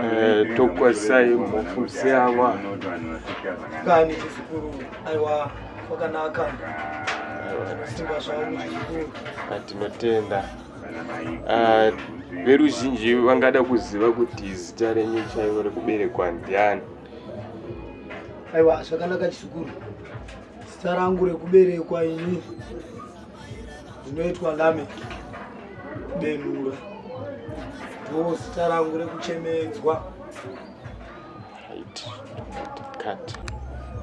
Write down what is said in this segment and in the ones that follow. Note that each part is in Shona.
Eh, tokwazisai mufundisi ava kani chisikuru aiwa kwakanaka simba zvangu zvikuru atinotenda ah, veruzhinji vangada kuziva kuti zita renyu chaivo rekuberekwa ndiani aiwa zvakanaka chisikuru zita rangu rekuberekwa ini zvinoitwa nami benura ndo zita rangu rekuchemedzwa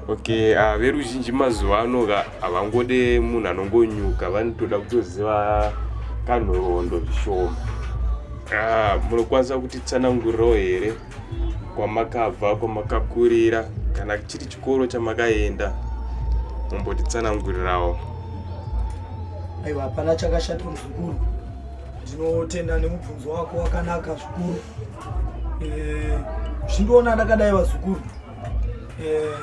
okay uh, veruzhinji mazuva ano ka havangode munhu anongonyuka vanotoda kutoziva kanhoroondo zvishoma uh, munokwanisa kutitsanangurirawo here kwamakabva kwamakakurira kana chiri chikoro chamakaenda mumbotitsanangurirawo aiwa hapana chakashata muzukuru ndinotenda nemubvunzo wako wakanaka zvikuru eh, zvindiona ndakadai vazukuru eh,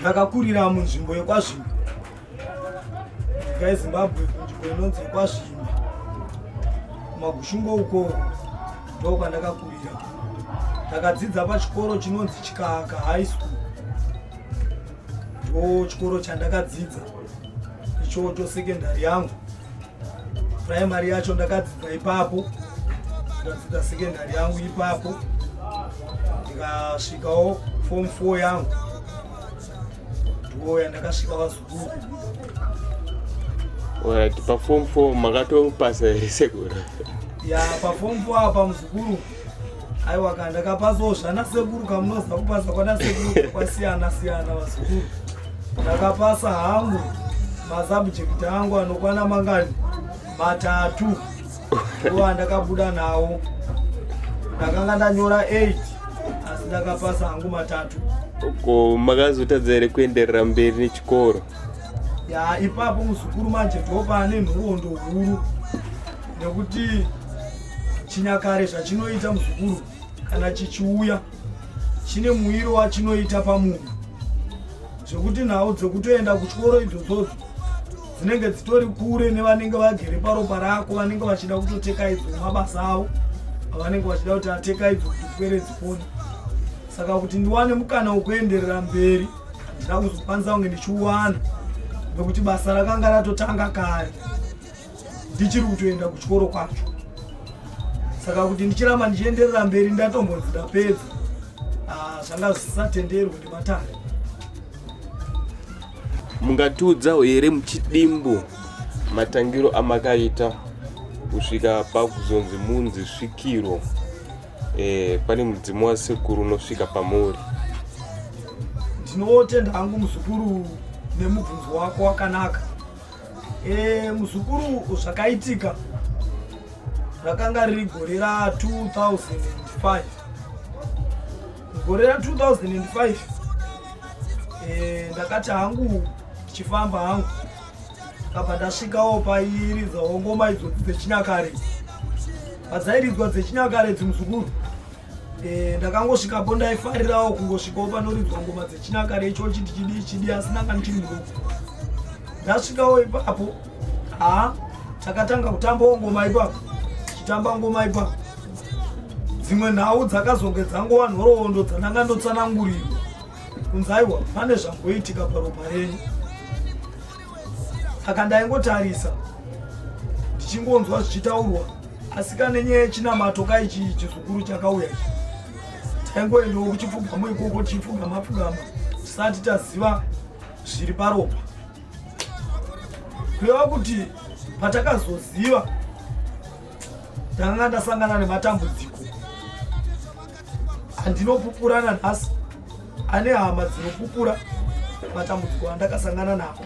ndakakurira munzvimbo yekwazvimbo Guys, Zimbabwe kunzvimbo inonzi kwaZvimba magushungo uko ndo kwandakakurira ndakadzidza pachikoro chinonzi chikaka high school ndo chikoro chandakadzidza ichocho secondary yangu primary yacho ndakadzidza ipapo ndadzidza secondary yangu ipapo ndikasvikawo form four yangu ndiwo yandakasvika vazukuru paform four makatopasa here sekuru ya paform four apa muzukuru aiwa ka ndakapasawo zvana sekuru kamunoziva kupasa kwana sekuru kwasiyana siyana vasekuru ndakapasa hangu masubject angu anokwana mangani matatu uwa ndakabuda nawo ndakanga ndanyora 8 asi ndakapasa hangu matatu ko makazotadza here kuenderera mberi nechikoro ya ipapo muzukuru manje ndopane nhoroondo huru nekuti Chinyakare zvachinoita muzukuru kana chichiuya chine muwiro wachinoita pamunhu zvekuti nhau dzekutoenda kuchikoro idzodzodzo dzinenge dzitori kure nevanenge vagere paropa rako vanenge vachida kutoteka idzo mabasa avo avanenge vachida kuti ateka idzo kuti pwere dzipone saka kuti ndiwane mukana wekuenderera mberi handina kuzokwanisa kunge ndichiwana nekuti basa rakanga ratotanga kare ndichiri kutoenda kuchikoro kwacho saka kuti ndichiramba ndichienderera mberi ndatombonzi ndapedza ah, zvanga zvisatenderwe nematare mungatiudzawo here muchidimbu matangiro amakaita kusvika pakuzonzi munzi svikiro e, pane mudzimu wasekuru unosvika pamuri ndinotenda hangu muzukuru nemubvunzo wako wakanaka Eh, muzukuru zvakaitika rakanga riri gore ra 2005 gore ra 2005 eh, ndakati hangu ndichifamba hangu ndakabva ndasvikawo pairidzawo ngoma idzodzi dzechinyakare padzairidzwa dzechinyakare dzimuzukuru Eh, ndakangosvikapo ndaifarirawo kungosvikawo panoridzwa ngoma dzechinyakare icho chiti chidii chidii asi ndanga ndichiri mudoko ndasvikawo ipapo haa takatanga kutambawo ngoma ipapo chitamba ngoma ipapo dzimwe nhau dzakazonge dzangowa nhoroondo dzandanga ndotsanangurirwa kunzaiwa pane zvamboitika paropa renyu saka ndaingotarisa ndichingonzwa zvichitaurwa asi kane nyaya yechinamato ka ichi chizukuru chakauya ichi taingoendawo kuchipfugamo ikoko tichipfugama pfugama tisati taziva zviri paropa kureva kuti patakazoziva ndakanga ndasangana nematambudziko andinopupurana nhasi ane hama dzinopupura matambudziko andakasangana nawo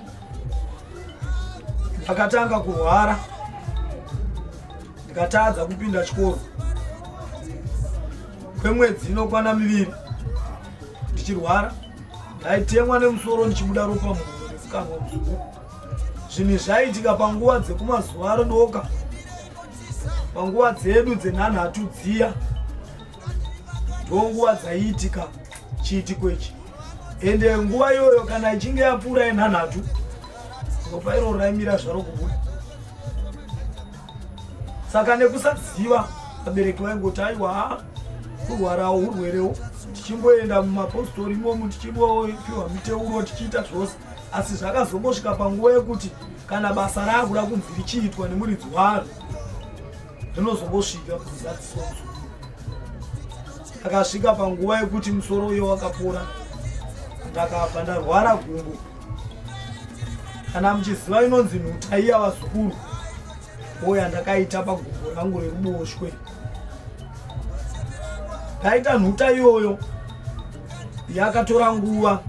ndakatanga kurwara ndikatadza kupinda chikoro kwemwedzi inokwana miviri ndichirwara ndaitemwa nemusoro ndichibuda ropa muhuro nefukanwa muzuku zvinhu zvaiitika panguva dzekumazuva arodoka panguva dzedu dzenhanhatu dziya ndonguva dzaiitika chiitiko ichi ende nguva iyoyo kana ichinge yapfuura yenhanhatu ropa iro raimira zvaro kubuda saka nekusaziva vabereki vaingoti aiwa kurwarawo urwerewo tichingoenda mumapostori imomu tichimbopiwa miteuro tichiita zvose asi zvakazongosvika panguva yekuti kana basa raakuda kunzi richiitwa nemuridzi waro rinozongosvika kuzadziswa akasvika panguva yekuti musoro uyo wakapora ndakabva ndarwara gumbo kana muchiziva inonzi nhuta iya vazukuru oya ndakaita pagumbo rangu reruboshwe ndaita nhuta iyoyo yakatora nguva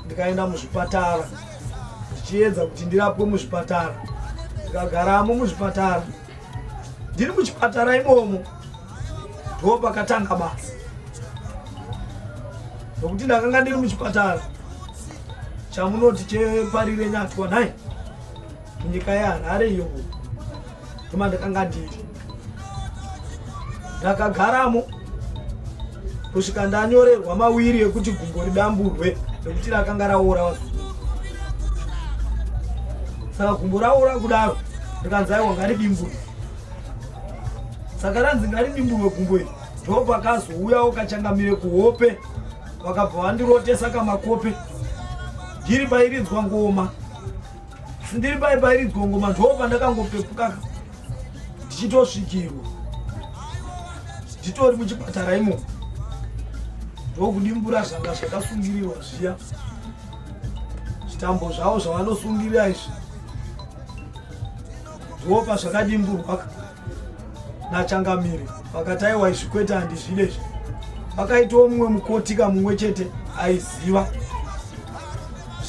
ndikaenda muzvipatara ndichiedza kuti ndirapwe muzvipatara ndikagaramo muzvipatara ndiri muchipatara imomo ndo pakatanga basa nokuti ndakanga ndiri muchipatara chamunoti cheparire nyatwa nhai nyika yeharare iyoku koma ndakanga ndiri ndakagaramo kusvika ndanyorerwa mawiri ekuti gumbo ridamburwe nekuti rakanga raora wa saka gumbo raora kudaro rikanzi aiwa ngaridimburwe saka ranzi ngaridimburwe gumbo iri ndo pakazouyawo kachangamire kuhope vakabva vandirotesa kamakope ndiri pairidzwa ngoma ndiri pai pairi gongoma ndo pandakangopepukaka ndichitosvikirwa nditori muchipatara imo ndokudimbura zvanga zvakasungirirwa zviya zvitambo zvavo zvavanosungirira izvi ndopa zvakadimburwa nachangamire vakati aiwa izvi kwete handizvide izvi vakaitawo mumwe mukoti kamumwe chete aiziva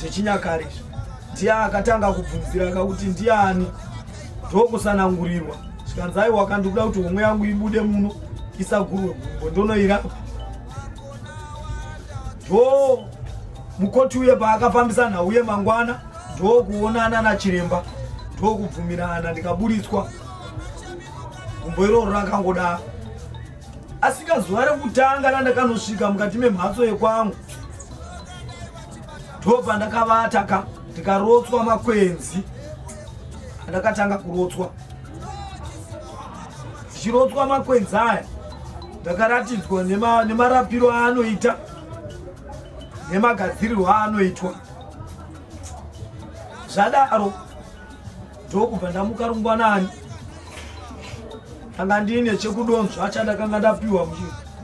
zvechinyakare izvi ndiye akatanga kubvunzira kakuti ndiani ndokusanangurirwa zvikanzi aiwa kandikuda kuti homwe yangu ibude muno isagurwe gumbo ndonoirapa ndo mukoti uye paakafambisa nhau yemangwana ndokuonana nachiremba ndokubvumirana ndikaburitswa gumbo iroro rakangodaa asika zuva rekutanga randakanosvika mukati memhatso yekwangu ndobva ndakavata ka ndikarotswa makwenzi andakatanga kurotswa ndichirotswa makwenzi aya ndakaratidzwa nemarapiro aanoita nemagadzirirwo aanoitwa zvadaro ndokubva ndamuka rungwanani kanga ndiine chekudonzva chandakanga ndapiwa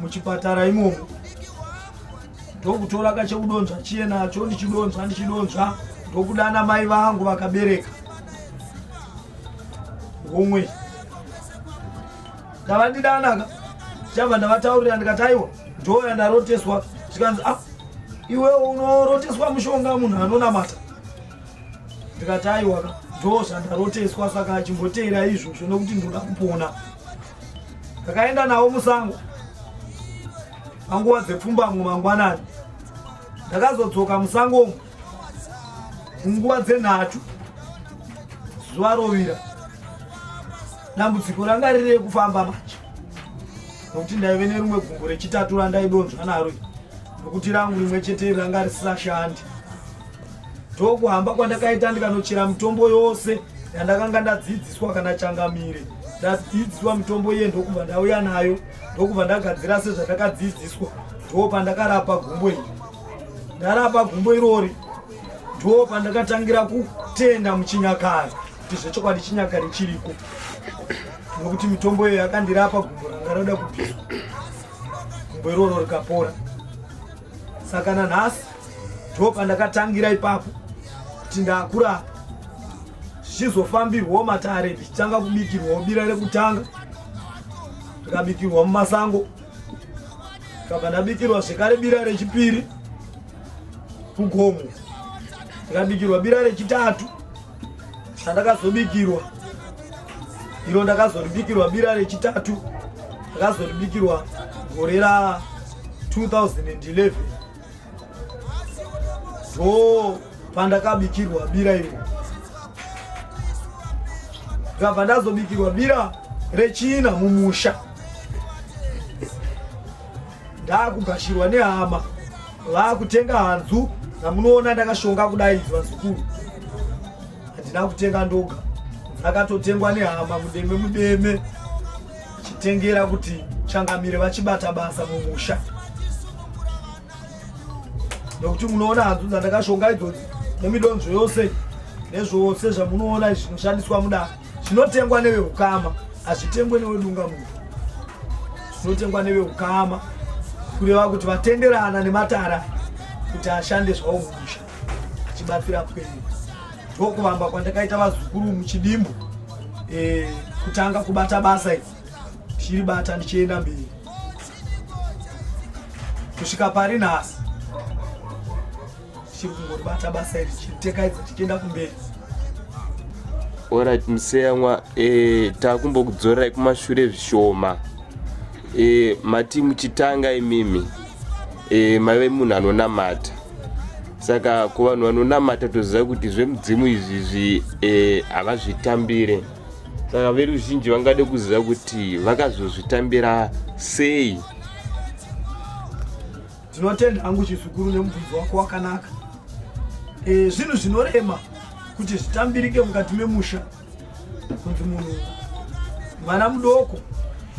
muchipatara imomo ndokutora kachekudonzva chiye nacho ndichidonzva ndichidonzva ndokudana mai vangu vakabereka homwe ndavandidana ka chabva ndavataurira ndikataiwa ndoo yandaroteswa zvikanzi a ah, iwe unoroteswa mushonga munhu anonamata ndikati aiwaka ndoo zvandaroteswa saka achimboteera izvozvo nokuti ndoda kupona ndakaenda navo musango panguva dzepfumbamwe mangwanani ndakazodzoka musangomo munguva dzenhatu zuva rovira dambudziko ranga riri rekufamba manje nokuti ndaive nerumwe gumbo rechitatu randaidonzva naro nokuti rangu rimwe chete ranga risisashandi ndokuhamba kwandakaita ndikanochera mitombo yose yandakanga ndadzidziswa kana changamire ndadzidziswa mitombo iye ndokubva ndauya nayo ndokubva ndagadzira sezvandakadzidziswa ndo pandakarapa gumbo iri ndarapa gumbo irori ndo pandakatangira kutenda muchinyakari kuti zvechokwadi chinyakari chiriko nokuti mitombo iyo yakandirapa gumbo ranga roda kubviswa gumbo iroro rikapora saka nanhasi ndo pandakatangira ipapo kuti ndakurapa zvichizofambirwawo matare ndichitanga kubikirwawo bira rekutanga rikabikirwa mumasango Saka ndabikirwa zvekare bira rechipiri kugomo, ndikabikirwa bira rechitatu sandakazobikirwa iro, ndakazoribikirwa bira rechitatu, ndakazoribikirwa gore ra 2011. Oh, pandakabikirwa bira iro ndakabva ndazobikirwa bira rechina mumusha ndakugashirwa nehama vakutenga hanzu namunoona ndakashonga kudai vazukuru handina kutenga ndoga ndakatotengwa nehama mudeme mudeme chitengera kuti changamire vachibata basa mumusha nokuti munoona hanzu dzandakashonga idzodzi nemidonzvo yose nezvose zvamunoona zvinoshandiswa mudaro zvinotengwa neveukama hazvitengwe newedunga munhu zvinotengwa neveukama kureva kuti vatenderana nematara kuti ashande zvawo mumusha achibatsira kwenyu ndokuvamba kwandakaita vazukuru muchidimbu e, kutanga kubata basa iri ndichiri bata ndichienda mberi kusvika pari nhasi ndichiri kungoribata basa iri tichitekaidza tichienda kumberi orit museyamwa e, eh, takumbokudzorerai kumashure zvishoma e, mati muchitanga imimi e, maive munhu anonamata saka kuvanhu vanonamata toziva kuti zvemudzimu izvizvi e, havazvitambire e, saka veruzhinji vangade kuziva kuti vakazozvitambira sei tinotenda hangu chizukuru nemubvunzo wako wakanaka e, zvinhu zvinorema kuti zvitambirike mukati memusha kuti munhu mwana mudoko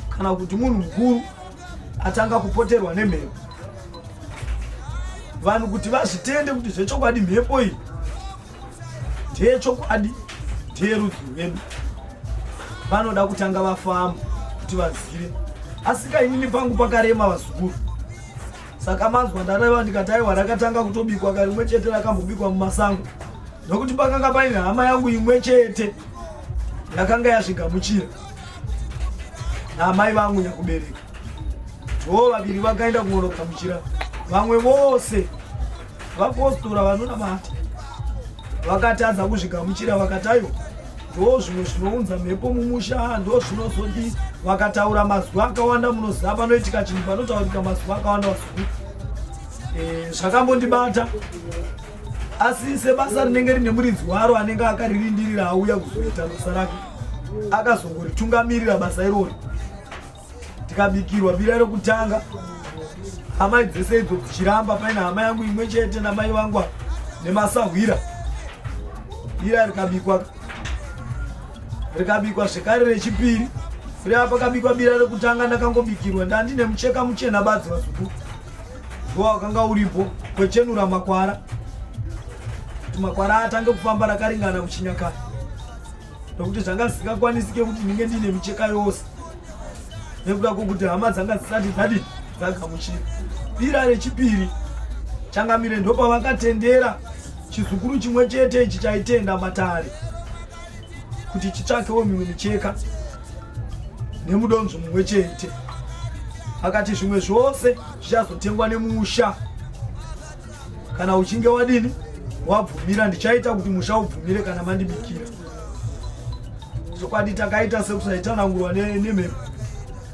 kana kuti munhu mukuru atanga kupoterwa nemhepo vanhu kuti vazvitende kuti zvechokwadi mhepo iyi ndeyechokwadi ndeyerudzi rwedu vanoda kutanga vafamba kuti vazive asika inini pangu pakarema vazukuru saka manzwa ndareva ndikati aiwa rakatanga kutobikwa karimwe chete rakambobikwa mumasango nokuti pakanga paine hama yangu imwe chete yakanga yazvigamuchira naamai vangu nyakubereka vo vaviri vakaenda kunonogamuchira vamwe vose Vapostora vanonamata vakatadza kuzvigamuchira vakatayo ndo zvimwe zvinounza mhepo mumusha ndo zvinozodi vakataura mazuva akawanda munoziva panoitika chinhu panotaurika mazuva akawanda vazukuru eh, zvakambondibata asi sebasa rinenge rine muridzi waro anenge akaririndirira auya kuzoita basa rake akazongoritungamirira basa irori tikabikirwa bira rokutanga amai dzese idzo dzichiramba paine hama yangu imwe chete namai vangu nemasahwira ira rikabikwa rikabikwa zvekare rechipiri rea pakabikwa bira rekutanga ndakangobikirwa ndandine mucheka muchena badzi vazuku ndowa wakanga uripo kwechenura makwara kuti makwara atange kufamba rakaringana kuchinyakara nokuti zvanga zvisingakwanisike kuti ndinge ndiine micheka yose nekuda kwokuti hama dzanga dzisati dzadi dzagamuchira bira rechipiri changamire ndopavakatendera chizukuru chimwe chete ichi chaitenda matare kuti chitsvakewo mimwe micheka nemudonzvo mumwe chete akati zvimwe zvose zvichazotengwa nemusha kana uchinge wadini wabvumira ndichaita kuti musha ubvumire kana mandibikira chokwadi takaita sekusaitanangurwa nemhepo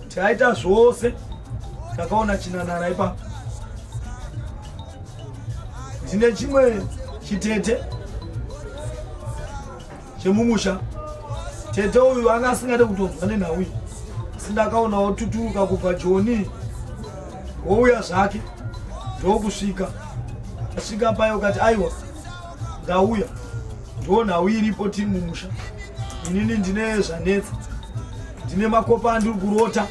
tikaita zvose takaona chinanara ipapo ndine chimwe chitete chemumusha tete uyu anga asingade kutonzwa nenhau iyi asi ndakaona otuturuka kubva joni wouya zvake ndokusvika asvika payo kati aiwa ndauya ndo nhau iripo tiri mumusha inini ndine zvanetsa ndine makopa andiri kurota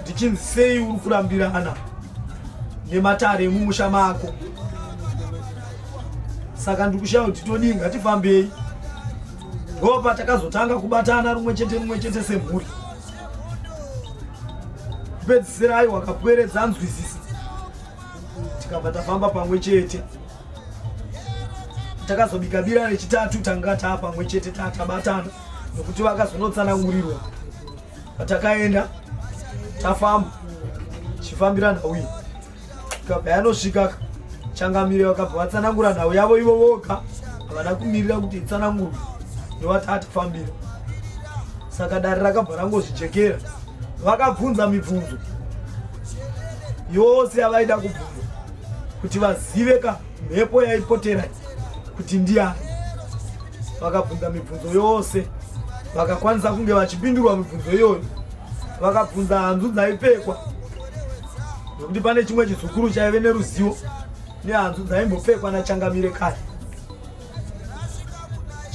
ndichinzi sei uri kurambirana nematare emumusha mako saka ndikushaya kuti todii ngatifambei ndo patakazotanga kubatana rumwe chete rumwe chete semhuri kupedzisira ayi wakapweredza anzwisisa tikabva tafamba pamwe chete takazobika bira rechitatu tanga taa pamwe chete taa tabatana nokuti vakazonotsanangurirwa patakaenda tafamba chifambira nhau iyi kabayanosvika changamire vakabva vatsanangura nhau yavo ivo voga havana kumirira kuti itsanangurwe ndovatati fambira saka dare rakabva rangozvijekera vakabvunza mibvunzo yose yavaida kubvunza kuti vazive ka mhepo yaipotera kuti ndiyani vakabvunza mibvunzo yose vakakwanisa kunge vachipindurwa mibvunzo iyoyo vakabvunza hanzu dzaipfekwa nokuti pane chimwe chizukuru chaive neruzivo nehanzu dzaimbopfekwa nachangamire kare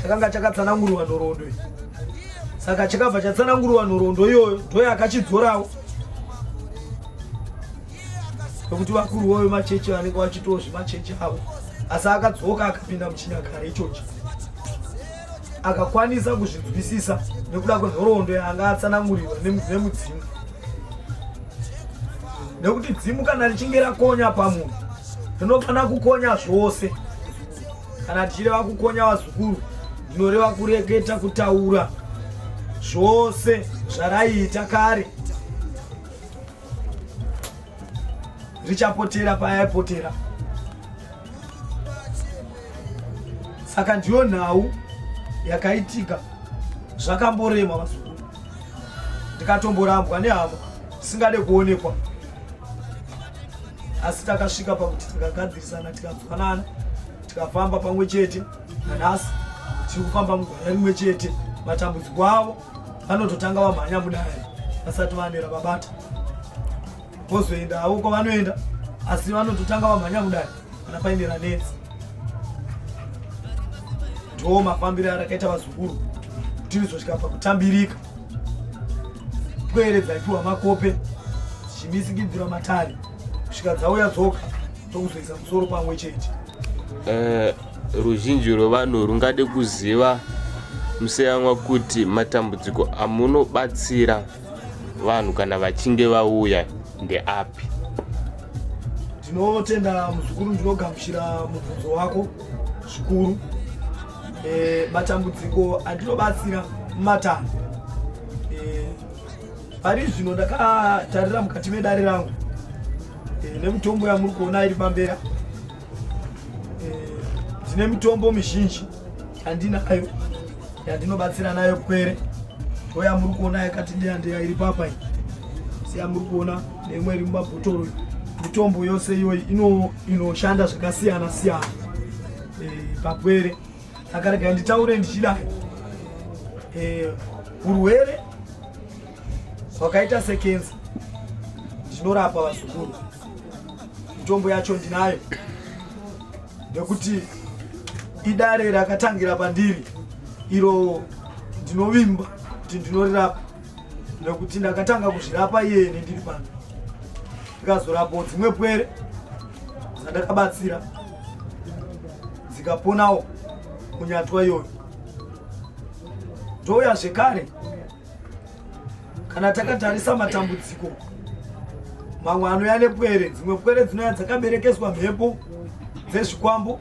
chakanga chakatsananguriwa nhoroondo iyi saka chakabva chatsananguriwa nhoroondo iyoyo ndoye akachidzorawo nokuti vakuru voyo machechi vanenge vachitoo zvemachechi avo asi akadzoka akapinda muchinyakare ichochi akakwanisa kuzvinzwisisa nekuda kwenhoroondo yaanga atsanangurirwa nemudzimu nekuti dzimu kana richinge rakonya pamunhu rinofanira kukonya zvose kana tichireva kukonya vazukuru ndinoreva kureketa kutaura zvose zvaraiita kare richapotera payaipotera saka ndiyo nhau yakaitika zvakamborema vazukuru ndikatomborambwa nehama tisingade kuonekwa asi takasvika pakuti tikagadzirisana tikanzwanana tikafamba pamwe chete nanhasi tiri kufamba mugwara rimwe chete matambudziko avo vanototanga vamhanya mudare vasati vanera vabata vozoenda havo kwavanoenda asi vanototanga vamhanya mudare kana painera netsi ndoo mafambiro arakaita vazukuru kuti rizosvika pakutambirika pwere dzaipiwa makope dzichimisikidzirwa matare kusvika dzauya dzoka tokuzoisa musoro pamwe chete eh, Ruzhinji rwevanhu rungade kuziva museyanwa kuti matambudziko amunobatsira vanhu kana vachinge vauya ndeapi tinotenda muzukuru ndinogamuchira mubvunzo wako zvikuru e, matambudziko andinobatsira mumatanho e, pari zvino ndakatarira mukati medare rangu e, nemutombo yamuri kuona iri pambera Ndine mitombo mizhinji yandinayo yandinobatsira nayo pwere oya muri kuona yakati ndeya ndeya iri papa iyi siya muri kuona neimwe iri mumabhotoro mitombo yose iyoyi inoshanda zvakasiyana siyana eh, papwere akarega nditaure ndichidai eh, urwere hwakaita sekenzi ndinorapa vazukuru Mitombo yacho ndinayo nekuti idare rakatangira pandiri iro ndinovimba kuti ndinorirapa nekuti ndakatanga kuzvirapa iyeni ndiri pano ndikazorapawo dzimwe pwere dzandakabatsira dzikaponawo kunyatwa iyoyo ndouya zvekare kana takatarisa matambudziko mamwe anouya nepwere dzimwe pwere dzinouya dzakaberekeswa mhepo dzezvikwambo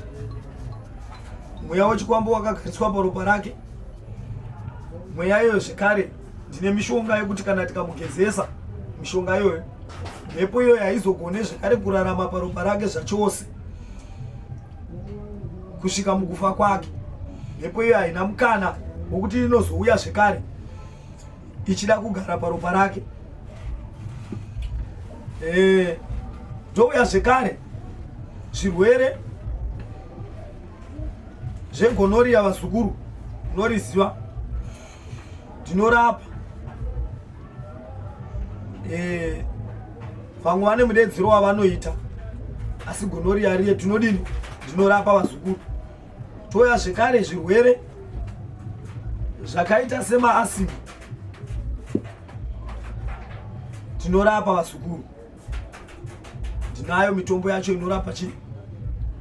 mweya wechikwambo wakagariswa paropa rake mweya iyoyo zvekare ndine mishonga yekuti kana tikamugezesa mishonga iyoyo mhepo iyoyo haizogone zvekare kurarama paropa rake zvachose kusvika mukufa kwake mhepo iyo haina mukana wokuti inozouya zvekare ichida kugara paropa rake eh, ndouya zvekare zvirwere zvegonoriya vazukuru unoriziva tinorapa eh, vamwe vane mudedzero wavanoita asi gonoriyariye tinodini tinorapa vazukuru touya zvekare zvirwere zvakaita semaasimi tinorapa vazukuru ndinayo mitombo yacho inorapa chii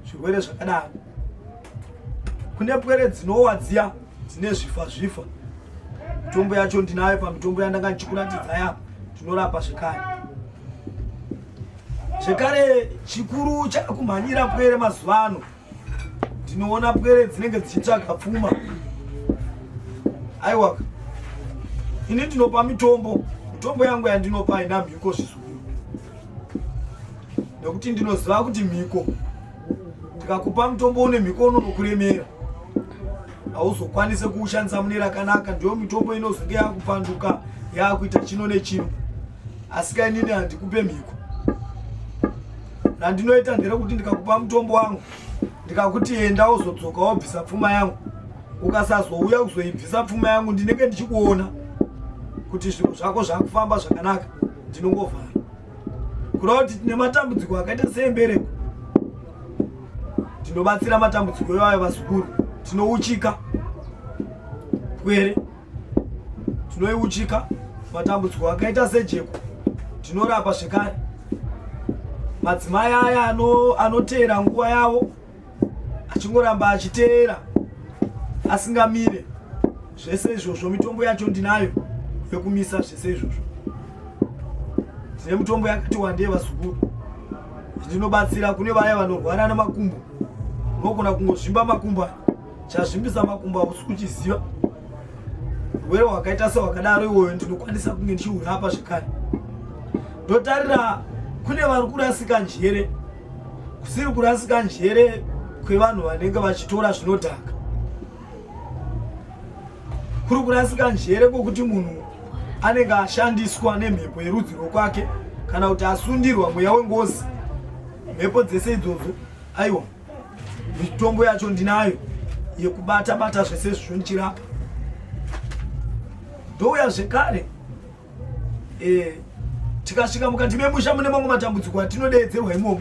zvirwere zvakadaro kune pwere dzinowa dziya dzine zvifa zvifa mitombo yacho ndinayo pamitombo yandanga ndichikuratidza yapo tinorapa zvekare zvekare chikuru chakumhanyira pwere mazuva ano ndinoona pwere dzinenge dzichitsvaga pfuma aiwa ini ndinopa mitombo mitombo yangu yandinopa haina mhiko zvisuru nekuti ndinoziva kuti mhiko ndikakupa mutombo une mhiko unonokuremera hauzokwanise kuushandisa mune rakanaka ndiyo mitombo inozonge yakupanduka yakuita chino nechino asika inini handikupe mhiko randinoita nderekuti ndikakupa mutombo wangu ndikakuti enda uzodzoka wobvisa pfuma yangu ukasazouya kuzoibvisa pfuma yangu ndinenge ndichikuona kuti zvinhu zvako zvakufamba zvakanaka ndinongovhara kureva kuti tine matambudziko akaita seembereko tinobatsira matambudziko iwayo vazukuru tinouchika pwere tinoiuchika matambudziko akaita sejeko tinorapa zvekare madzimai aya anoteera nguva yavo achingoramba achiteera asingamire zvese izvozvo mitombo yacho ndinayo yekumisa zvese izvozvo tine mitombo yakati wandei vazukuru ndinobatsira kune vaya vanorwara nemakumbo unogona kungozvimba makumbo aya chazvimbisa makumbo hausi kuchiziva were wakaita sewakadaro iwoyo ndinokwanisa kunge ndichiurapa zvekare ndotarira kune vari kurasika njere kusiri kurasika njere kwevanhu vanenge vachitora zvinodhaka kuri kurasika njere kwokuti munhu anenge ashandiswa nemhepo yerudzi rwokwake kana kuti asundirwa mweya wengozi mhepo dzese idzodzo aiwa mitombo yacho ndinayo yekubata bata zvese zvizvo ndichirapa ndouya zvekare eh, tikasvika mukati memusha mune mamwe matambudziko atinodeedzerwa imomo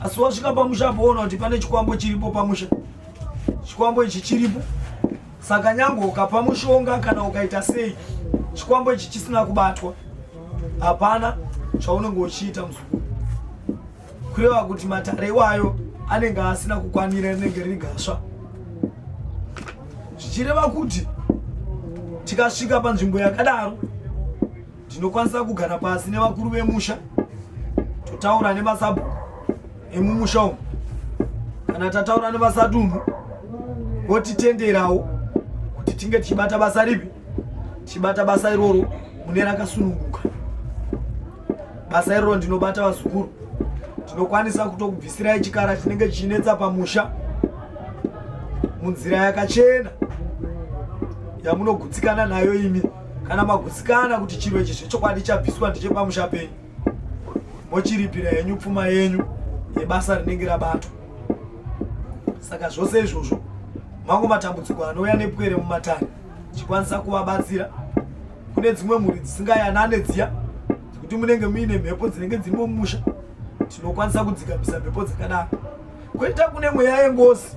asi wasvika pamusha apoona kuti pane chikwambo chiripo pamusha chikwambo ichi chiripo saka nyange ukapa mushonga kana ukaita sei chikwambo ichi chisina kubatwa hapana chaunenge uchiita muzukuru kureva kuti matare iwayo anenge asina kukwanira rinenge riri gasva zvichireva kuti tikasvika panzvimbo yakadaro tinokwanisa kugara pasi nevakuru vemusha totaura nemasabhuku emumusha umu kana tataura nevasadunhu votitenderawo kuti tinge tichibata basa ripi tichibata basa iroro mune rakasununguka basa iroro ndinobata vazukuru tinokwanisa kutokubvisirai chikara chinenge chichinetsa pamusha munzira yakachena yamunogutsikana nayo imi kana magutsikana kuti chiro ichi zvechokwadi chabviswa ndechepamusha penyu mochiripira henyu pfuma yenyu yebasa rinenge rabatwa saka zvose izvozvo mango matambudziko anouya nepwere mumatani tichikwanisa kuvabatsira kune dzimwe mhuri dzisingayanane dziya dzekuti munenge muine mhepo dzinenge dziri mumusha tinokwanisa kudzikamisa mhepo dzakadaro kwoita kune mweya yengozi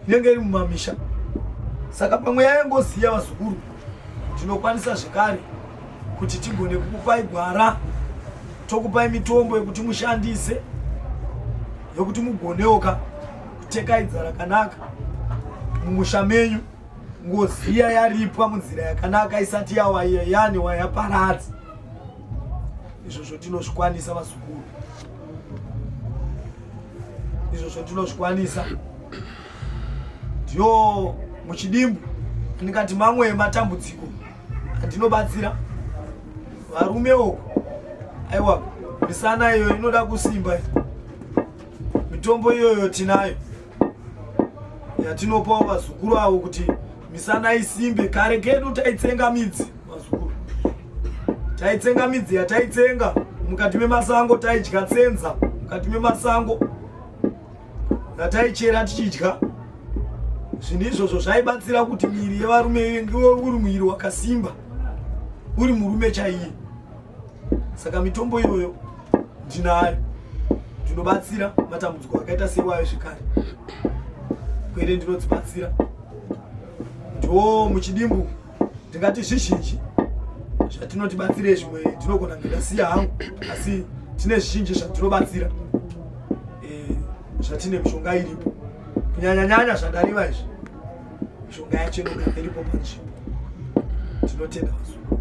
inenge iri mumamisha saka pamweya yengozi iya vazukuru tinokwanisa zvekare kuti tigone kukupai gwara tokupai mitombo yekuti mushandise yokuti mugonewoka kutekaidza rakanaka mumusha menyu ngozi iya yaripwa munzira yakanaka isati yawaiya yani wayaparadzi izvozvo tinozvikwanisa vazukuru izvozvo tinozvikwanisa ndiyo muchidimbu ndikati mamwe ematambudziko andinobatsira varume uku aiwa misana iyoyo inoda kusimba mitombo iyoyo tinayo yatinopawo vazukuru avo kuti misana isimbe kare kedu taitsenga midzi vazukuru taitsenga midzi yataitsenga mukati memasango taidya tsenza mukati memasango yataichera tichidya zvinhu izvozvo zvaibatsira kuti miri yevarume iwe uri muiri wakasimba uri murume chaiye saka mitombo iyoyo ndinayo ndinobatsira matambudziko akaita sewayo zvekare kwete ndinodzibatsira ndo muchidimbu ndingati zvizhinji zvatinotibatsire zvimwe ndinogona ndingasiya hangu asi tine zvizhinji zvatinobatsira eh, zvatine mishonga iripo kunyanyanyanya zvandarima izvi mishonga yacho inogara iripo panzvimbo tinotenda vazungu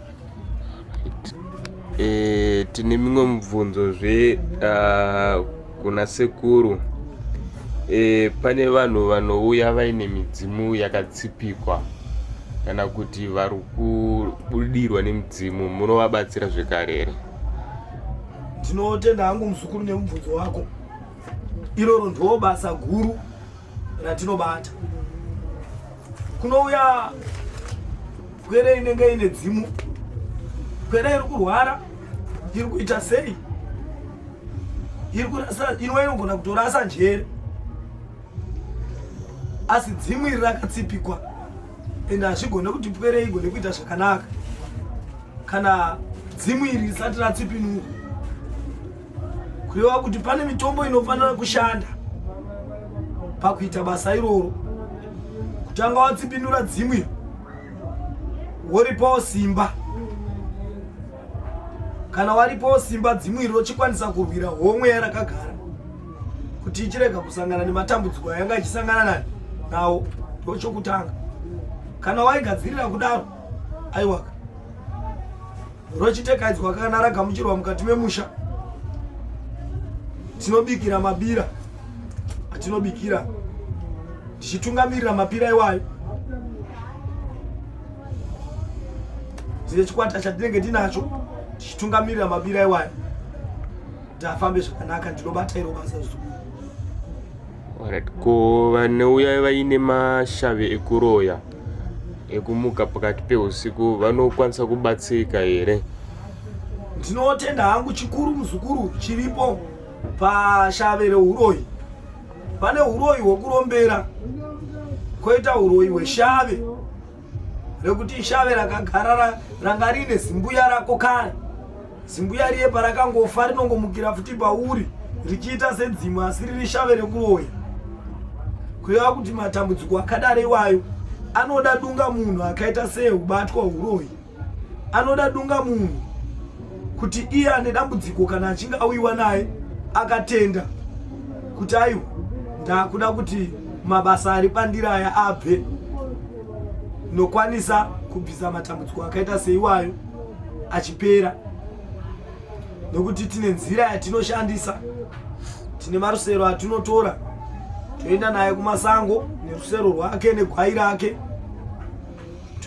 E, tine mimwe mubvunzo zve uh, kuna sekuru e, pane vanhu vanouya vaine midzimu yakatsipikwa kana kuti vari kubudirwa nemidzimu munovabatsira zvekare here ndinotenda hangu muzukuru nemubvunzo wako iroro ndoo basa guru ratinobata kunouya pwere inenge ine dzimu pwere iri kurwara iri kuita sei iri kurasa inova inogona kutorasa njere asi dzimu iri rakatsipikwa ende hazvigone kuti pwere igone kuita zvakanaka kana dzimu iri risati ratsipinurwa kureva kuti pane mitombo inofanira kushanda pakuita basa iroro kutanga watsipindura dzimwe woripawo simba kana waripawo simba dzimwe iri rochikwanisa kurwira homwe yarakagara kuti ichirega kusangana nematambudziko ayanga ichisangana nani nawo ndochokutanga kana waigadzirira kudaro aiwaka Rwechitekaidzwa kana ragamuchirwa mukati memusha tinobikira mabira atinobikira tichitungamirira mapira iwayo tine chikwata chatinenge tinacho tichitungamirira mabira iwayo kuti afambe zvakanaka ndinobata iro basa zuu Alright, ko vanouya vaine mashavi ekuroya ekumuka pakati peusiku vanokwanisa kubatsirika here? Ndinotenda hangu chikuru muzukuru chiripo pashave reuroyi. Pane uroyi hwekurombera, koita uroyi hweshave. rekuti shave rakagara ranga rine zimbuya rako kare zimbuya riye parakangofa rinongomukira futi pauri richiita sedzimu asi riri shave rekuroya kureva kuti matambudziko akadaro iwayo anoda dunga munhu akaita seubatwa uroyi anoda dunga munhu kuti iye ane dambudziko kana achinge auyiwa naye akatenda kuti aiwa ndakuda kuti mabasa ari pandiri aya abve nokwanisa kubvisa matambudziko akaita seiwayo achipera nokuti tine nzira yatinoshandisa tine marusero atinotora toenda naye kumasango nerusero rwake negwai rake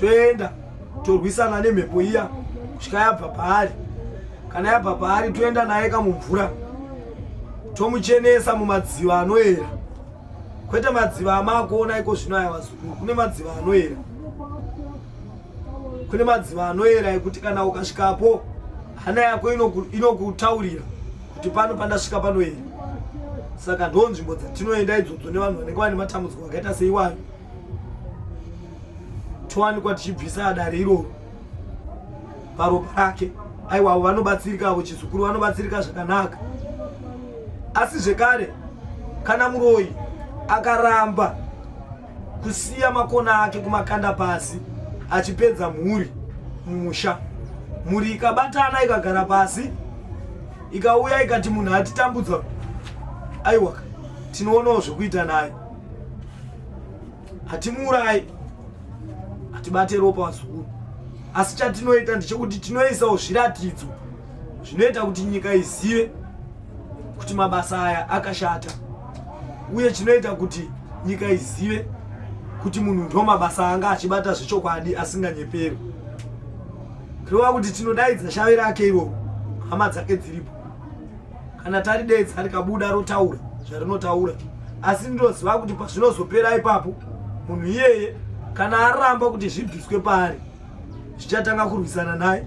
toenda torwisana nemhepo iya kusvika yabva paari kana yabva paari toenda naye kamumvura tomuchenesa mumadziva anoera kwete madziva amakuona iko zvino aya vazukuru kune madziva anoera kune madziva anoera ekuti kana ukasvikapo hana yako inokutaurira kuti pano pandasvika panoera saka ndo nzvimbo dzatinoenda idzodzo nevanhu vanenge vane matambudziko akaita seiwayo towanikwa tichibvisa dare iroro paropa rake aiwawo vanobatsirika avo chizukuru vanobatsirika zvakanaka asi zvekare kana muroyi akaramba kusiya makona ake kumakanda pasi achipedza mhuri mumusha mhuri ikabatana ikagara pasi ikauya ikati munhu atitambudza aiwaka tinoonawo zvekuita naye hatimuurayi hatibate ropa vazukuru asi chatinoita ndechekuti tinoisawo zviratidzo zvinoita kuti nyika izive kuti mabasa aya akashata uye chinoita kuti nyika izive kuti munhu ndo mabasa anga achibata zvechokwadi asinganyeperi kureva kuti tinodaidza shave rake iroro hama dzake dziripo kana taridedza rikabuda rotaura zvarinotaura asi ndinoziva kuti pazvinozopera ipapo munhu iyeye kana aramba kuti zvibviswe paari zvichatanga kurwisana naye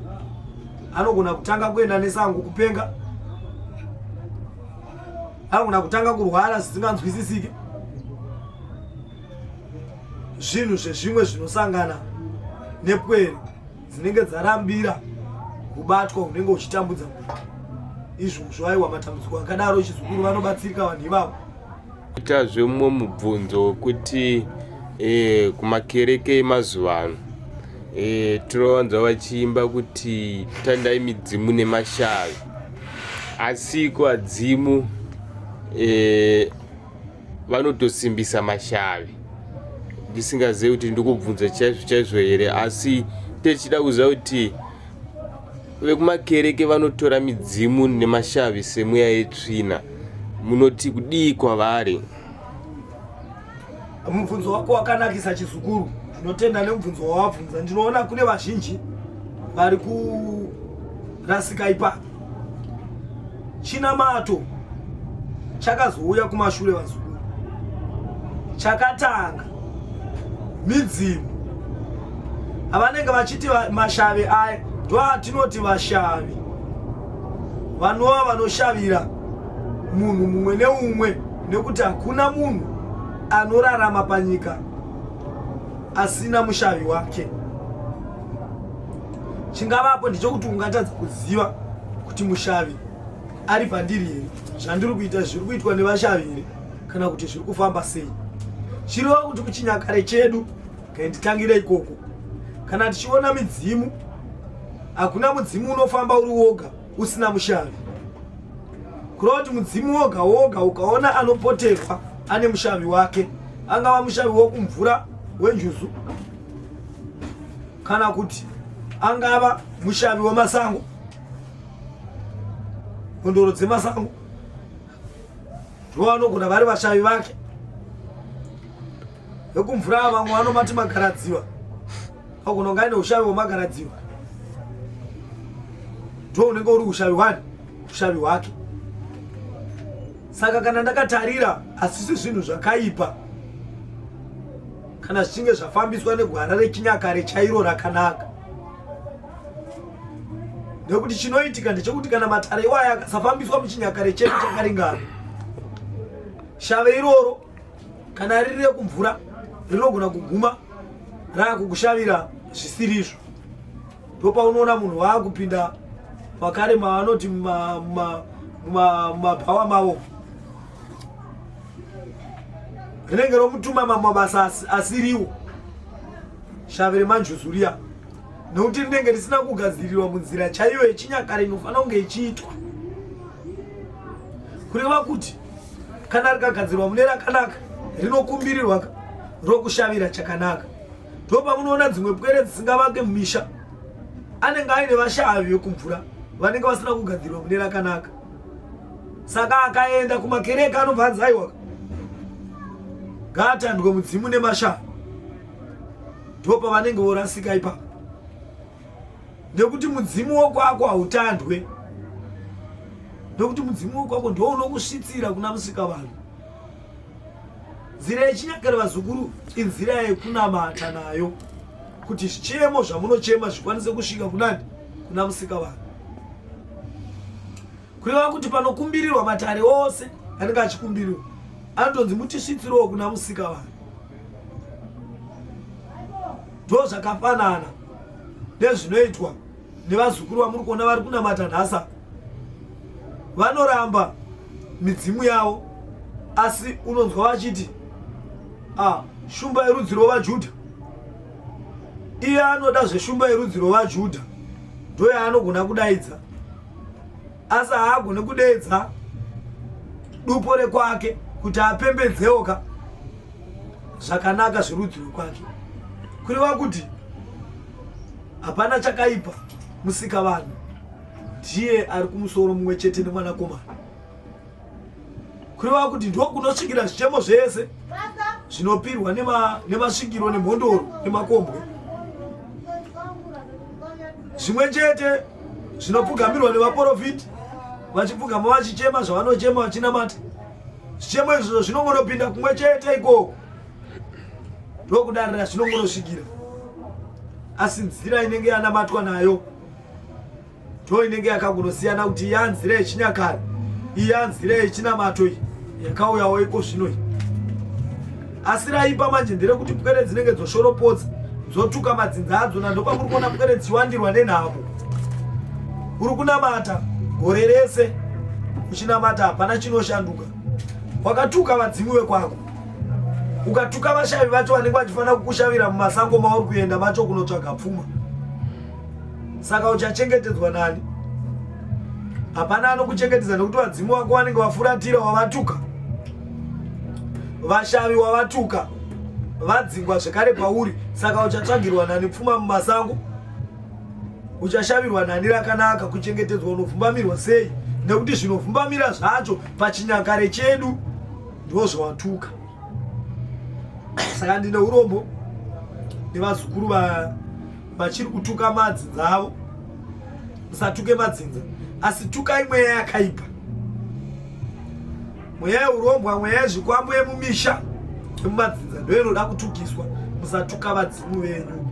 anogona kutanga kuenda nesango kupenga anogona kutanga kurwara zvisinganzwisisike zvinhu zvezvimwe zvinosangana nepwere dzinenge dzarambira kubatwa unenge uchitambudza munhu izvozvo aiwa matambudziko akadaro chizukuru vanobatsirika vanhu ivavo ita zvemumwe mubvunzo wekuti e, kumakereke emazuva ano e, tinowanza vachiimba kuti tandai midzimu nemashavi asiko adzimu e, vanotosimbisa mashavi ndisingazive kuti ndikubvunza chaizvo chaizvo here asi techida kuziva kuti vekumakereke vanotora midzimu nemashavi semweya yetsvina munoti kudii kwavari mubvunzo wako wakanakisa chizukuru ndinotenda nemubvunzo wawabvunza ndinoona kune vazhinji vari kurasika ipapo chinamato chakazouya kumashure vazukuru chakatanga midzimu avanenge vachiti mashavi aya ndoatinoti vashavi vanova vanoshavira munhu mumwe neumwe nekuti hakuna munhu anorarama panyika asina mushavi wake chingavapo ndechokuti ungatadza kuziva kuti mushavi ari pandiri here zvandiri kuita zviri kuitwa nevashavi here kana kuti zviri kufamba sei chirova kuti kuchinyakare chedu kainditangire ikoko kana tichiona midzimu hakuna mudzimu unofamba uri woga usina mushavi kureva kuti mudzimu woga woga ukaona anopoterwa ane mushavi wake angava mushavi wokumvura wenjuzu kana kuti angava mushavi wemasango kondoro dzemasango ndovanogona vari vashavi vake vekumvura ava vamwe vanomati magaradziva agona kunga aine ushavi hwemagaradziva ndo unenge uri ushavi hwani ushavi hwake saka kana ndakatarira hasisi zvinhu zvakaipa kana zvichinge zvafambiswa negwara rechinyakare chairo rakanaka nekuti chinoitika ndechekuti kana matare iwaya akasafambiswa muchinyakare chedu chakaringana shave iroro kana riri rekumvura rinogona kuguma raakukushavira zvisiri izvo ndopaunoona munhu waakupinda makare maanoti mumabhawa mavo rinenge romutuma mamwe mabasa asiriwo shavi remanjuzuriya nokuti rinenge risina kugadzirirwa munzira chaiyo yechinyakare inofanira kunge ichiitwa kureva kuti kana rikagadzirwa mune rakanaka rinokumbirirwa rokushavira chakanaka ndo pamunoona dzimwe pwere dzisingavake mumisha anenge aine vashavi vekumvura vanenge vasina kugadzirirwa mune rakanaka saka akaenda kumakereke anobva anzi aiwa ngaatandwe mudzimu nemashaa ndo pavanenge vorasika ipapo nekuti mudzimu wokwako hautandwe nekuti mudzimu wokwako ndo unokusvitsira kuna musika vanhu nzira yechinyakare vazukuru inzira yekunamata nayo kuti zvichemo zvamunochema zvikwanise kusvika kunani kuna musika vanhu kureva kuti panokumbirirwa matare ose anenge achikumbirirwa anotonzi mutisvitsirowo kuna musika vanhu ndo zvakafanana nezvinoitwa nevazukuru vamuri kuona vari kunamata nhasa vanoramba midzimu yavo asi unonzwa vachiti ah, shumba yerudzi rwovajudha iye anoda zveshumba yerudzi rwevajudha ndo yaanogona kudaidza asi haagone kudeedza dupo rekwake kuti apembedzewo ka zvakanaka zverudzi rwekwake kureva kuti hapana chakaipa musika vanhu ndiye ari kumusoro mumwe chete nemwanakomana kureva kuti ndiko kunosvikira zvichemo zvese zvinopirwa nemasvikiro nemhondoro nemakombwe zvimwe chete zvinopfugamirwa nevaporofiti vachipfugama vachichema zvavanochema vachinamata zvichemo izvozvo zvinongonopinda kumwe chete ikoko ndokudarira zvinongonosvikira asi nzira inenge yanamatwa nayo Ndoo inenge yakangonosiyana kuti yanzira yechinyakare iyanzira yechinamato iyi yakauyawo iko zvino iyi asi raipa manje nderekuti pwere dzinenge dzoshoropodza dzotuka madzinza adzo na ndokwakuri kuona pwere dzichiwandirwa nenhamo uri kunamata gore rese uchinamata hapana chinoshanduka wakatuka vadzimi vekwako ukatuka vashavi vacho vanenge vachifanira kukushavira mumasango mauri kuenda macho kunotsvaga pfuma saka uchachengetedzwa nani hapana anokuchengetedza nekuti vadzimu vako vanenge vafuratira wavatuka vashavi wavatuka vadzingwa zvekare pauri saka uchatsvagirwa nani pfuma mumasango uchashavirwa nani rakanaka kuchengetedzwa unovhumbamirwa sei nekuti zvinovhumbamira zvacho pachinyakare chedu ndiwo zvawatuka saka ndine urombo nevazukuru va vachiri kutuka madzi dzavo musatuke madzinza asi tukai mweya yakaipa mweya yeurombwa mweya yezvikwambo yemumisha yemumadzinza ndo inoda kutukiswa musatuka vadzimu venyu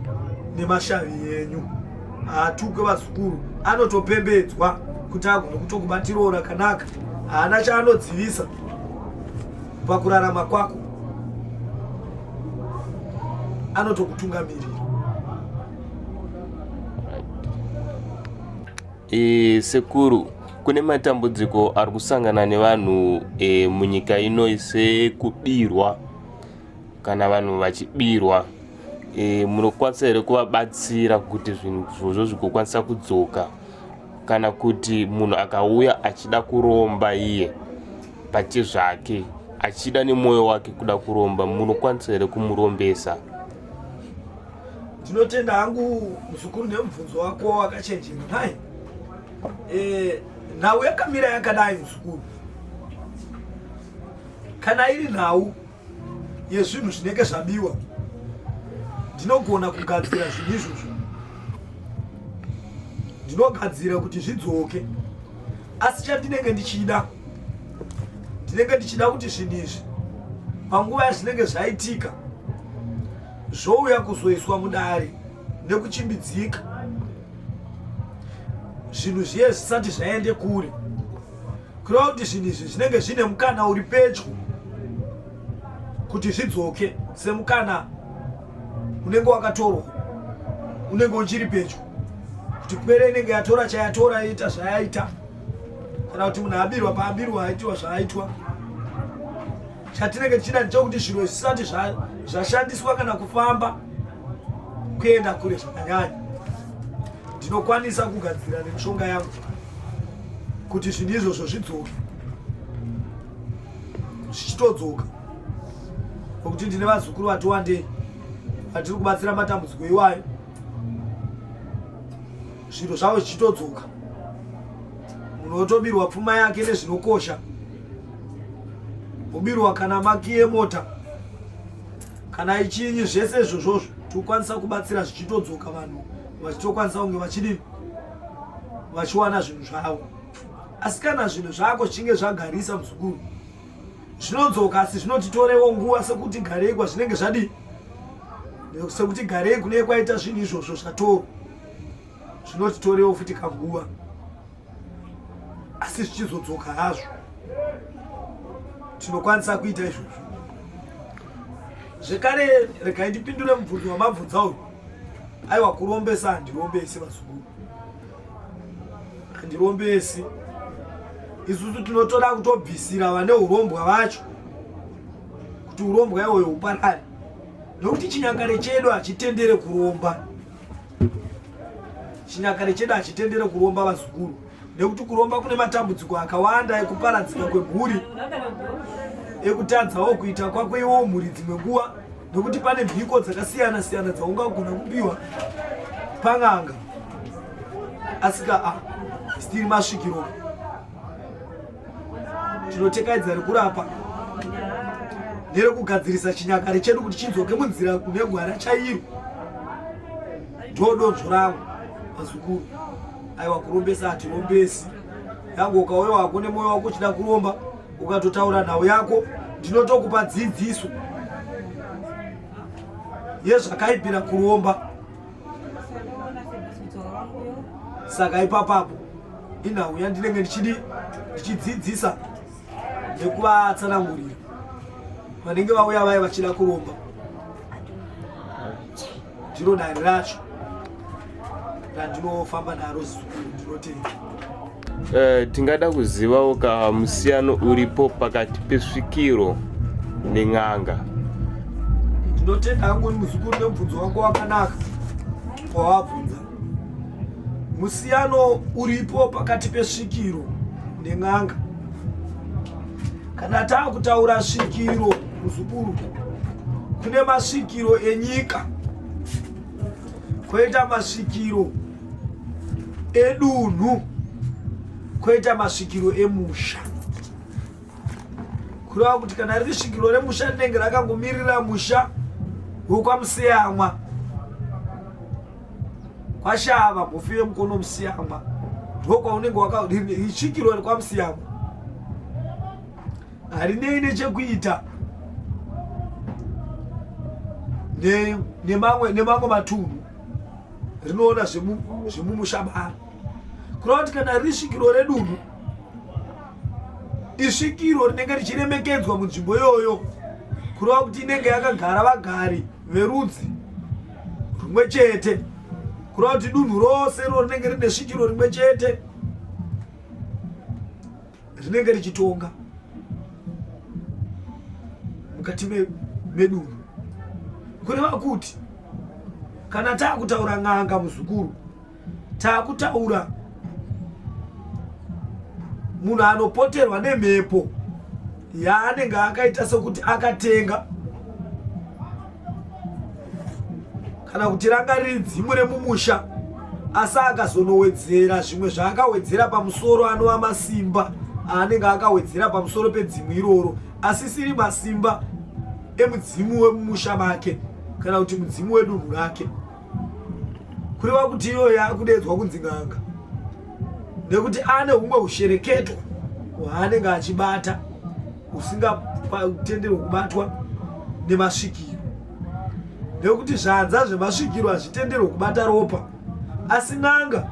nemashavi yenyu haatuke vazukuru anotopembedzwa kuti agone kutokubatirawo rakanaka haana chaanodzivisa pakurarama kwako anotokutungamirira e, sekuru kune matambudziko ari kusangana nevanhu e, munyika ino sekubirwa kana vanhu vachibirwa e, munokwanisa here kuvabatsira kuti zvinhu zvozvo zvigokwanisa kudzoka kana kuti munhu akauya achida kuromba iye pachezvake achida nemwoyo wake kuda kuromba munokwanisa here kumurombesa ndinotenda hangu muzukuru nemubvunzo wako wakachenjera nhai eh, nhau yakamira yakadai muzukuru kana iri nhau yezvinhu zvinenge zvabiwa ndinogona kugadzira zvinhu izvozvo ndinogadzira kuti zvidzoke asi chandinenge ndichida ndinenge ndichida kuti zvinhu izvi panguva yazvinenge zvaitika zvouya kuzoiswa mudare nekuchimbidzika zvinhu zviye zvisati zvaende kure kureva kuti zvinhu izvi zvinenge zvine mukana uri pedyo kuti zvidzoke semukana unenge wakatorwa unenge uchiri pedyo kuti pwere inenge yatora chayatora yaita zvayaita kana kuti munhu abirwa paabirwa aitiwa zvaaitwa chatinenge tichida ndechokuti zviro zvisati zvashandiswa kana kufamba kuenda kure zvakanyanya ndinokwanisa kugadzira nemishonga yangu kuti zvinhu izvozvo zvidzoke zvichitodzoka nokuti ndine vazukuru vati wandei vatiri kubatsira matambudziko iwayo zviro zvavo zvichitodzoka munhu wotobirwa pfuma yake nezvinokosha wobirwa kana maki yemota kana ichinyi zvese izvozvozvo tokwanisa kubatsira zvichitodzoka vanhu vachitokwanisa kunge vachidii vachiwana zvinhu zvavo asi kana zvinhu zvako zvichinge zvagarisa muzukuru zvinodzoka asi zvinotitorewo nguva sekuti garei kwazvinenge zvadii sekuti garei kune kwaita zvinhu izvozvo zvatorwa zvinotitorewo futi kanguva asi zvichizodzoka hazvo tinokwanisa kuita izvozvo zvekare regai ndipindure mubvunzo wamabvunza uyu aiwa kurombesa handirombesi vazukuru handirombesi isusu tinotoda kutobvisira vane urombwa vacho kuti urombwa iwoyo huparare nokuti chinyakare chedu hachitendere kuromba Chinyakare chedu hachitendere kuromba vazukuru nekuti kuromba kune matambudziko akawanda ekuparadzika kwemhuri ekutadzawo kuita kwako iwo mhuri dzimwe nguva nekuti pane mhiko dzakasiyana siyana dzaungagona kupiwa pan'anga asika a ah, stiri masvikiro Tinotekaidza rekurapa nerekugadzirisa chinyakare chedu kuti chidzoke munzira kune gwara chairo. Ndodonzvo rangu vazukuru. Aiwa kurombesa hatirombesi. Yangu ukauya wako nemoyo wako uchida kuromba ukatotaura nhau yako ndinotokupa dzidziso yezvakaipira kuromba saka ipapapo inhau yandinenge ndichidi ndichidzidzisa nekuvatsanangurira vanenge vauya vaye vachida kuromba ndiro dare racho randinofamba naro zuu ndinotenda Uh, tingada kuzivawo ka musiyano uripo pakati pesvikiro nen'anga ndinotenda hangu muzukuru nemubvunzo wako wakanaka wawabvunza musiyano uripo pakati pesvikiro nen'anga kana taa kutaura svikiro muzukuru kune masvikiro enyika koita masvikiro edunhu koita masvikiro emusha kureva kuti kana riri svikiro remusha rinenge rakangomirira musha wekwamusiyamwa kwashava mufi wemukono musiyamwa ndokwaunenge wakasvikiro rekwamusiyamwa harinei nechekuita nemamwe matunhu rinoona zvemumusha mavo kureva kuti kana riri svikiro redunhu isvikiro rinenge richiremekedzwa munzvimbo iyoyo kureva kuti inenge yakagara vagari verudzi rumwe chete kureva kuti dunhu rose ro rinenge rine svikiro rimwe chete rinenge richitonga mukati medunhu kureva kuti kana taakutaura n'anga muzukuru taakutaura munhu anopoterwa nemhepo yaanenge akaita sekuti akatenga kana kuti ranga riri dzimu remumusha asi akazonowedzera zvimwe zvaakawedzera pamusoro anova masimba aanenge akawedzera pamusoro pedzimu iroro asisiri masimba emudzimu wemumusha make kana kuti mudzimu wedunhu rake kureva kuti iyoyo akudeedzwa kunzi n'anga nekuti ane humwe hushereketo hwaanenge achibata usingatenderwe kubatwa nemasvikiro nekuti zvanza zvemasvikiro hazvitenderwe kubata ropa asi n'anga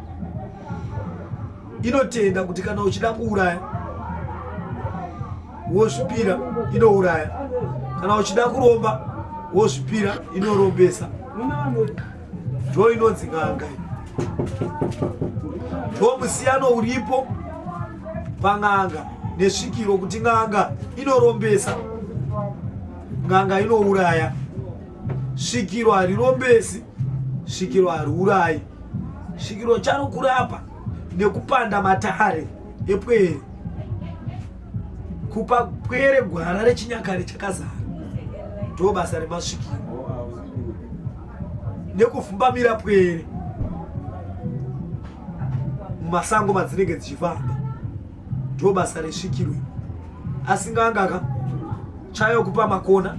inotenda kuti kana uchida kuuraya wozvipira inouraya kana uchida kuromba wozvipira inorombesa ndo inonzi n'anga ndo musiyano uripo pan'anga nesvikiro kuti n'anga inorombesa n'anga inouraya svikiro harirombesi svikiro hariurayi svikiro chanokurapa nekupanda matare epwere kupa pwere gwara rechinyakare chakazara ndo basa remasvikiro nekufumbamira pwere mumasango madzinenge dzichifamba ndo basa resvikirwe asi nganga ka chayo kupa makona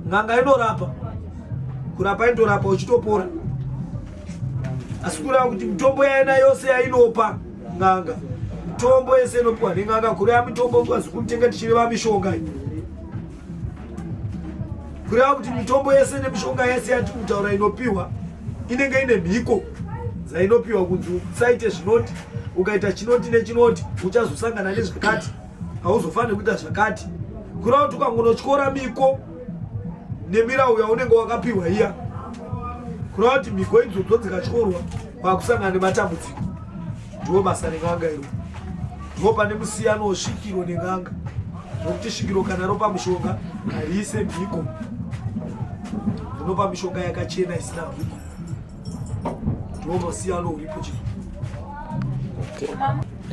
nganga inorapa kurapa indorapa uchitopora asi kureva kuti mitombo yaina yose yainopa nganga mitombo yese inopiwa nenganga kureva mitombo kwazi kumitenga tichireva mishonga iyi kureva kuti mitombo yese nemishonga yese yatiri kutaura inopiwa inenge ine mhiko dzainopiwa kunzi usaite zvinoti ukaita chinoti nechinoti uchazosangana nezvakati hauzofaniri kuita zvakati kureva kuti ukangonotyora miko nemirawu yaunenge wakapiwa iya kureva kuti miko idzodzo dzikatyorwa kwakusangana nematambudziko ndiwo basa ren'anga iro ndiwo pane musiyano wosvikiro nen'anga nokuti svikiro kana ropa mushonga hariise mhiko rinopa mishonga yakachena isina mhiko ndiwo musiyano uripo chii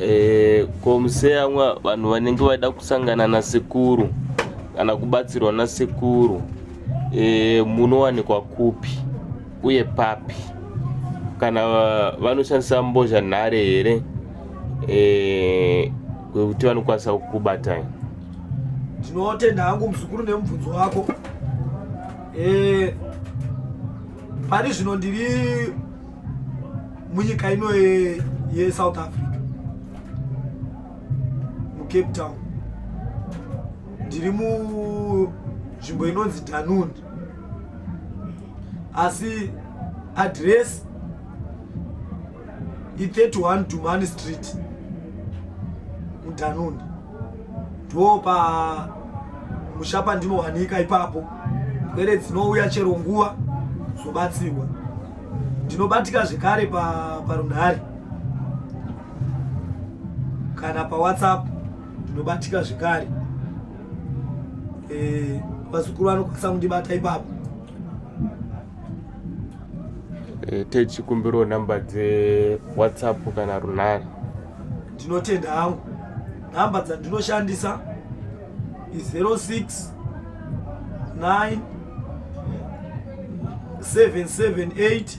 Eh, komuseyamwa vanhu vanenge vaida kusangana nasekuru kana kubatsirwa nasekuru eh, munowanikwa kupi uye papi kana vanoshandisa mbozha nhare here eh, kwekuti vanokwanisa kukubatai ndinotenda hangu muzukuru nemubvunzo wako eh, pari zvino ndiri munyika ino yesouth africa mucape town ndiri munzvimbo inonzi danundi asi address i31 dumani street mudanoni ndo pa musha pandinowanika ipapo pwere dzinouya chero nguva zobatsirwa ndinobatika zvekare parunhare pa kana pawhatsapp ndinobatika zvekare Eh, vazukuru vanokwanisa kundibata ipapo. Eh, techikumbirawo namba dze WhatsApp kana runhare. Ndinotenda hangu. Namba dzandinoshandisa i 06 9 778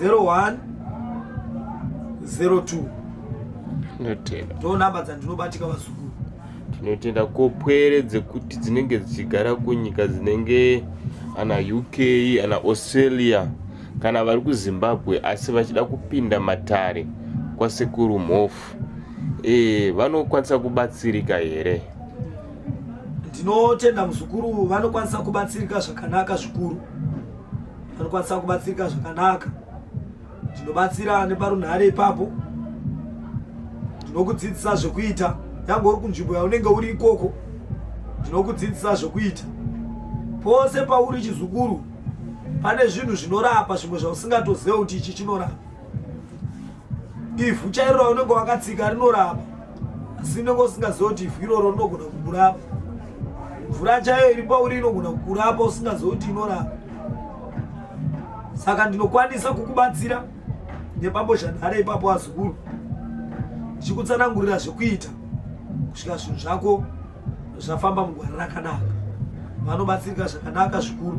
01 02 tinotenda ndo namba dzandinobatika vazukuru tinotenda kopwere dzekuti dzinenge dzichigara kunyika dzinenge ana uk ana australia kana vari kuzimbabwe asi vachida kupinda matare kwasekuru mhofu e, vanokwanisa kubatsirika here ndinotenda muzukuru vanokwanisa kubatsirika zvakanaka zvikuru vanokwanisa kubatsirika zvakanaka ndinobatsira neparunhare ipapo ndinokudzidzisa zvekuita yange uri kunzvimbo yaunenge uri ikoko ndinokudzidzisa zvekuita pose pauri chizukuru pane zvinhu zvinorapa zvimwe zvausingatozive kuti ichi chinorapa ivhu chairo raunenge wakatsika rinorapa asi unenge usingaziva kuti ivhu iroro rinogona kukurapa mvura chaiyo iri pauri inogona kukurapa usingaziva kuti inorapa saka ndinokwanisa kukubatsira nepambozhanhare ipapo wazukuru ndichikutsanangurira zvekuita kusvika zvinhu zvako zvafamba mugwara rakanaka vanobatsirika zvakanaka zvikuru